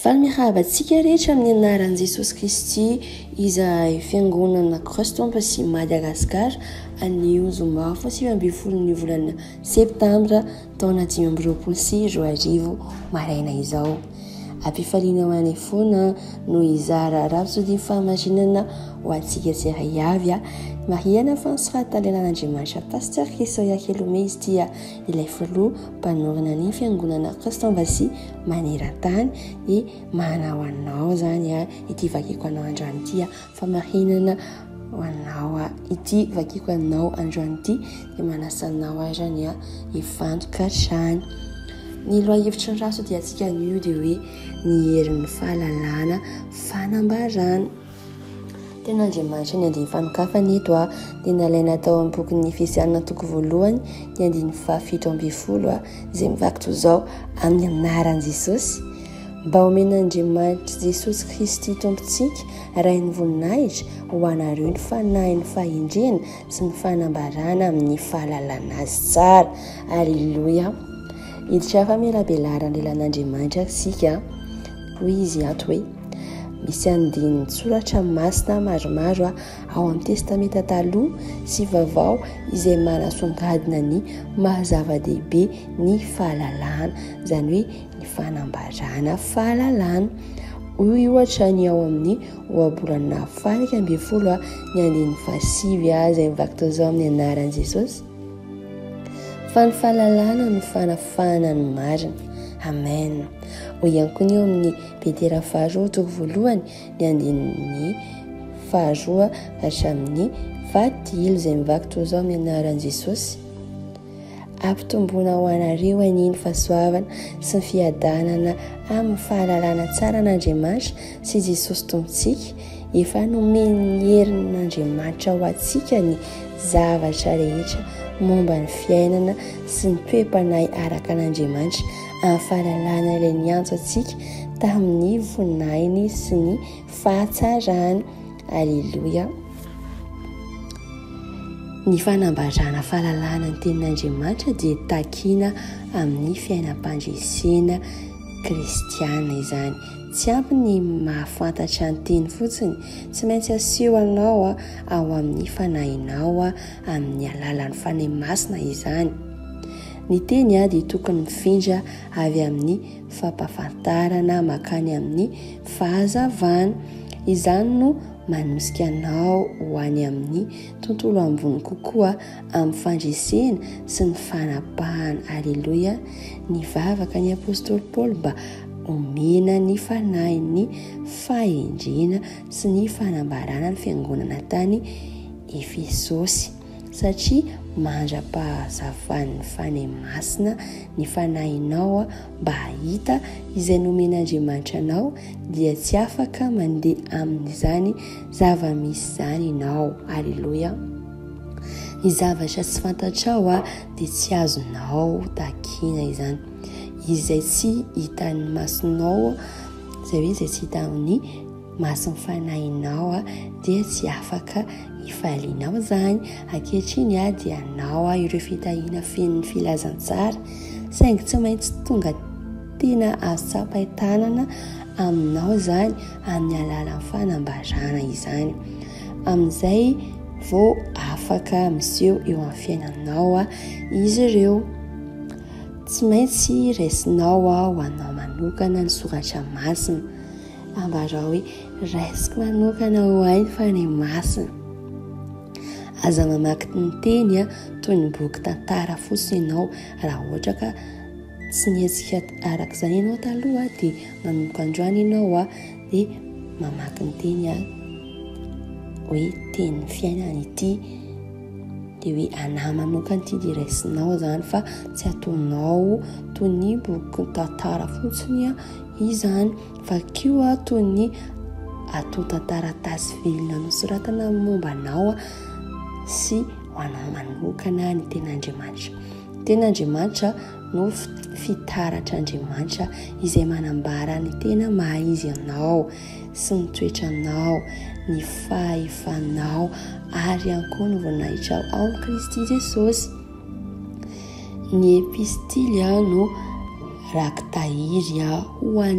Fa mirava antsika rehetra amin'ny anaran'i Jesosy Kristy izahay fiangonana Cross Temple sy Madagascar anio zoma fahasivy ambin'ny folon'ny volana septambra taona dimy amby roapolo sy roa arivo maraina izao. Ampifaliana ho anay foana no hizara rafitsodim fahamarinana ho antsika tsiraiavy. Marihana fa ny soratan'ny lalàn'Andriamanitra Pasteur Chrisoya Kelomey izy ity ilay filoha mpanorina ny fiangonana Christian-Vassy maneran-tany dia manana ho anao izany ity vakiko anao androany ity famarinana ho anao ity vakiko anao androany ity dia manasanao arany hifantoka hatrany ny lohahevitry ny rasodia antsika anio dia hoe ny herin'ny fahalalana fanambarana Tena Andriamanitra ny andiany fanokafana eto a, dia nalaina tao amin'ny bokin'ny Efesiana toko voalohany ny andininy fahafito ambin'ny folo a, izay mivaky toy izao amin'ny anaran'i Jesosy. Mba homen'Andriamanitra Jesosy Kristy Tompontsika, Rain'ny voninahitra, ho anareo ny fanahin'ny fahendrena sy ny fanambarana amin'ny fahalalana azy tsara. Aleloia. Hiditra famelabelarana lelan'Andriamanitra isika. Hoy izy ato hoe, Misy andinin-tsoratra masina maromaro ao amin'ny Testamenta Taloha sy Vaovao izay manasongadina ny maha-zava-dehibe ny fahalalana, izany hoe ny fanambarana fahalalana. Hoy ohatra ny ao amin'ny Ohabolana faha-iraika ambin'ny folo, ny andininy fahasivy, izay mivaky toy izao amin'ny anaran'i Jesosy. Fa ny fahalalana no fanafahana ny marina. Amen. Hoy ihany koa ny eo amin'ny Petera faharoa toko voalohany ny andininy faharoa hatramin'ny fahadilo izay mivaky toy izao amin'ny anaran'i Jesosy. Ampitomboina ho anareo anie ny fahasoavana sy ny fiadanana amin'ny fahalalana tsara an'Andriamanitra sy Jesosy Tompontsika Efa nomen'ny herin'Andriamanitra ho antsika ny zavatra rehetra momba ny fiainana sy ny toe-panahy araka an'Andriamanitra amin'ny fahalalana ilay niantso antsika tamin'ny voninahiny sy ny fahatsarany. Aleloia. Ny fanambarana fahalalana ny tenin'Andriamanitra dia takina amin'ny fiainam-pandresena kristiana izany. Tsy ampy ny mahafantatra ny teny fotsiny, tsy maintsy asio anao ao amin'ny fanahinao amin'ny alalan'ny Fanahy Masina izany. Ny teny dia tokony mifindra avy amin'ny fampafantarana makany amin'ny fahazavana. Izany no manosika anao ho any amin'ny tontolo ambony kokoa. amin'ny fandresena sy ny fanapahana. Aleloia! Nivavaka ny apostoly Paoly mba omena ny fanahin'ny fahendrena sy ny fanambarana ny fiangonana tany Efesosy satria mandra-pahazavan'ny fanahy masina ny fanahinao mba hahita izay nomen'Andriamanitra anao dia tsy afaka mandeha amin'izany zava-misy izany ianao. Aleloia! Ny zavatra tsy fantatrao a dia tsy azonao takiana izany. Izay tsy hitan'ny masonao, izay hoe izay tsy hita amin'ny mason'ny fanahinao a dia tsy afaka hifalianao izany. Ankehitriny a dia anao a ireo fitahiana fenon'ny filazantsara saingy tsy maintsy tonga tena azo tsapain-tanana aminao izany amin'ny alalan'ny fanambarana izany. amin'izay vao afaka miseho eo amin'ny fiainanao izy ireo. Tsy maintsy raisinao ho anao manokana ny soratra masina. Ambarao hoe raisiko manokana ho ainy fa ny masina. Aza mamaky ny teny toy ny boky tantara fotsiny ianao raha ohatra ka tsy nihetsika araka izany ianao taloha dia manomboka androany ianao dia mamaky ny teny aho hoe tenin'ny fiainana ity dia hoe anà manokana ity dia raisinao zany fa tsy ataonao toy ny boky tantara fotsiny a izany fa kio a toy ny atonta taratasy velona nosoratana momba anao a sy ho anao manokana ny ten'Andriamanitra ten'Andriamanitra no fitaratr'Andriamanitra izay manambara ny tena maha izy anao sy ny toetranao, ny fahefanao ary ihany koa ny voninahitrao ao amin'i Kristy Jesosy. Ny epistily no rakitahiry ho an'ny